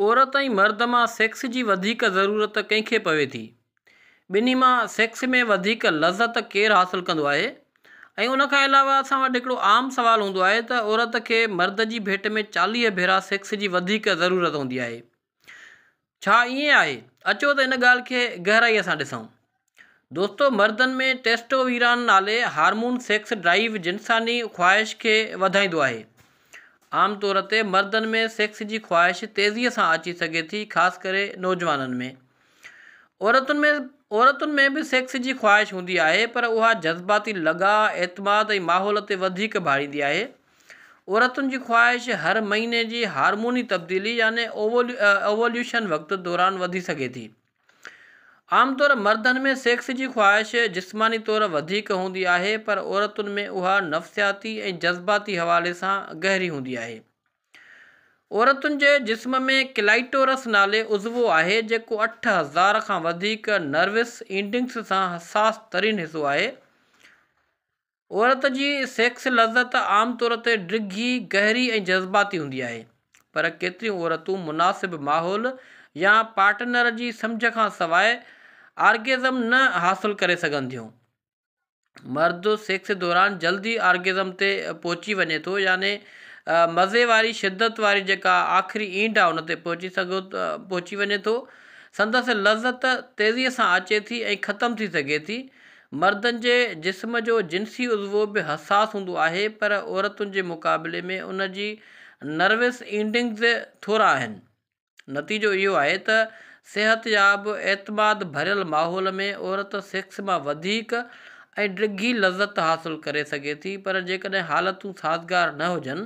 عورت ۽ مرد مان سيڪس جي وڌيڪ ضرورت ڪنهن کي پوي ٿي؟ ٻنهي مان سيڪس ۾ وڌيڪ لذت ڪير حاصل ڪندو آهي؟ ۽ ان کان علاوه اسان وٽ هڪڙو عام سوال هوندو آهي ته عورت کي مرد جي ڀيٽ ۾ چاليهه ڀيرا سيڪس جي وڌيڪ ضرورت هوندي آهي. ڇا ائين آهي؟ اچو ته ان ڳالهه کي گهرائيء سان ڏسون. دوستو مردن ۾ ٽيسٽويران نالي هارمون سيڪس ڊرائيو جنساني خواهش کي وڌائيندو آهي. عام طور تي مردن ۾ سيڪس جي خواهش تيزي سان اچي سگهي ٿي خاص ڪري نوجوانن ۾. عورتن ۾ عورتن ۾ به سيڪس جي خواهش هوندي آهي پر اها جذباتي لڳاء، اعتماد ۽ ماحول تي وڌيڪ ڀاڙيندي آهي. عورتن جي خواهش هر مهيني جي هارموني تبديلي يعني اووليوشن وقت دوران وڌي سگهي ٿي. عام طور مردن ۾ سيڪس جي خواهش جسماني طور وڌيڪ هوندي آهي پر عورتن ۾ اها نفسياتي ۽ جذباتي حوالي سان گهري هوندي آهي. عورتن جي جسم ۾ ڪلائيٽورس نالي عضوو آهي جيڪو اٺ هزار کان وڌيڪ نروس اينڊنگس سان حساس ترين حصو آهي. عورت جي سيڪس لذت عام طور تي ڊگهي، گهري ۽ جذباتي هوندي آهي، پر ڪيتريون عورتون مناسب ماحول يا پارٽنر جي سمجهه کان سواء آرگيزم نه حاصل ڪري سگهن ٿيون. مرد سيڪس دوران جلدي آرگيزم تي پهچي وڃي ٿو يعني مزي واري شدت واري جيڪا آخري اينڊ آهي ان تي پهچي سگهو پهچي وڃي ٿو. سندس لذت تيزي سان اچي ٿي ۽ ختم ٿي سگهي ٿي. مردن جي جسم جو جنسي عضوو به حساس هوندو آهي پر عورتن جي مقابلي ۾ ان جي نروس اينڊنگز ٿورا آهن. نتيجو اهو آهي ته صحتياب اعتماد ڀريل ماحول ۾ عورت سيڪس مان وڌيڪ ۽ ڊگهي لذت حاصل ڪري سگهي ٿي پر جيڪڏهن حالتون سازگار نه هجن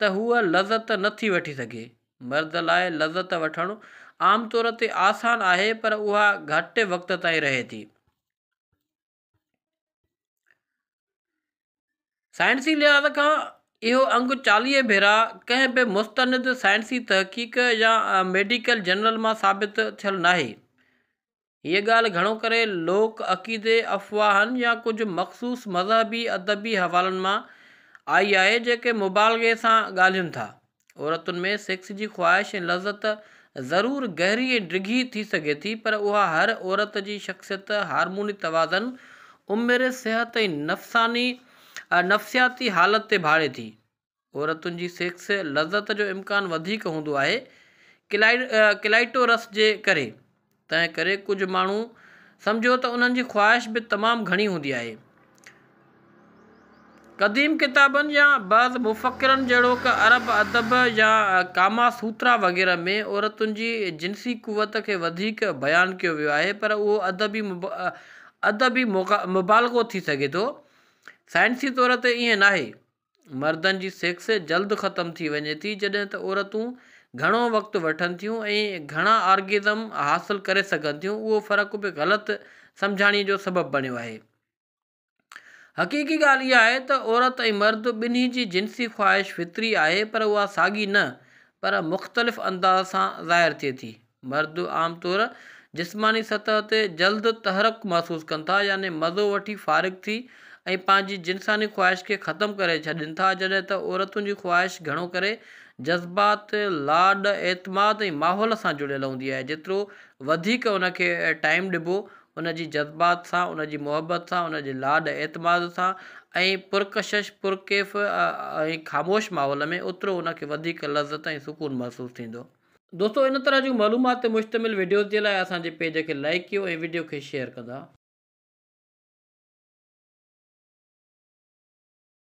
ته هوء لذت نه ٿي وٺي سگهي. مرد لاء لذت وٺڻ عام طور تي آسان آهي پر اها گهٽ وقت تائين رهي ٿي. سائنسي لحاظ کان اهو انگ چاليهه ڀيرا ڪنهن به مستند سائنسي تحقيق يا ميڊيڪل جرنل مان ثابت ٿيل ناهي. هيء ڳالهه گهڻو ڪري لوڪ عقيدي، افواهن يا ڪجهه مخصوص مذهبي ادبي حوالن مان آئي آهي، جيڪي مبالغي سان ڳالهين ٿا. عورتن ۾ سيڪس جي خواهش ۽ لذت ضرور گهري ۽ ڊگهي ٿي سگهي ٿي، پر اها هر عورت جي شخصيت، هارموني توازن، عمر، صحت ۽ نفساني نفسياتي حالت تي ڀاڙي ٿي. عورتن جي سيڪس لذت جو امڪان وڌيڪ هوندو آهي ڪلائٽورس جي ڪري تنهن ڪري ڪجهه ماڻهو سمجهو ته انهن جي خواهش به تمام گهڻي هوندي آهي قديم ڪتابن يا بعض مفڪرن جهڙوڪ عرب ادب يا ڪاما سوترا وغيره ۾ عورتن جي جنسي قوت کي وڌيڪ بيان ڪيو ويو آهي پر اهو ادبي ادبي مبالغو ٿي سگهي ٿو سائنسي طور تي ائين ناهي مردن جي سيڪس جلد ختم ٿي وڃي ٿي جڏهن ته عورتون گهڻو وقت وٺن ٿيون ۽ گهڻا آرگزم حاصل ڪري سگهن ٿيون اهو فرق به غلط سمجهاڻي جو سبب بڻيو آهي حقيقي ڳالهه اها آهي ته عورت ۽ مرد ٻنهي جي جنسي خواهش فطري آهي پر اها ساڳي نه پر مختلف انداز سان ظاهر ٿئي ٿي مرد عام طور جسماني سطح تي جلد تحرڪ محسوس ڪن ٿا يعني مزو وٺي فارغ ٿي ۽ پنهنجي جنساني خواهش کي ختم ڪري ڇڏين ٿا جڏهن ته عورتن جي خواهش گهڻو ڪري جذبات، لاڏ، اعتماد ۽ ماحول سان جڙيل هوندي آهي جيترو وڌيڪ ان کي ٽائيم ڏبو ان جي جذبات سان، ان جي محبت سان، ان جي لاڏ اعتماد سان ۽ پرڪشش، پرڪيف ۽ خاموش ماحول ۾ اوترو ان کي وڌيڪ لذت ۽ سڪون محسوس ٿيندو. دوستو ان طرح جون معلومات تي مشتمل وڊيوز جي لاء اسان جي پيج کي لائيڪ ڪيو ۽ وڊيو کي شيئر ڪندا.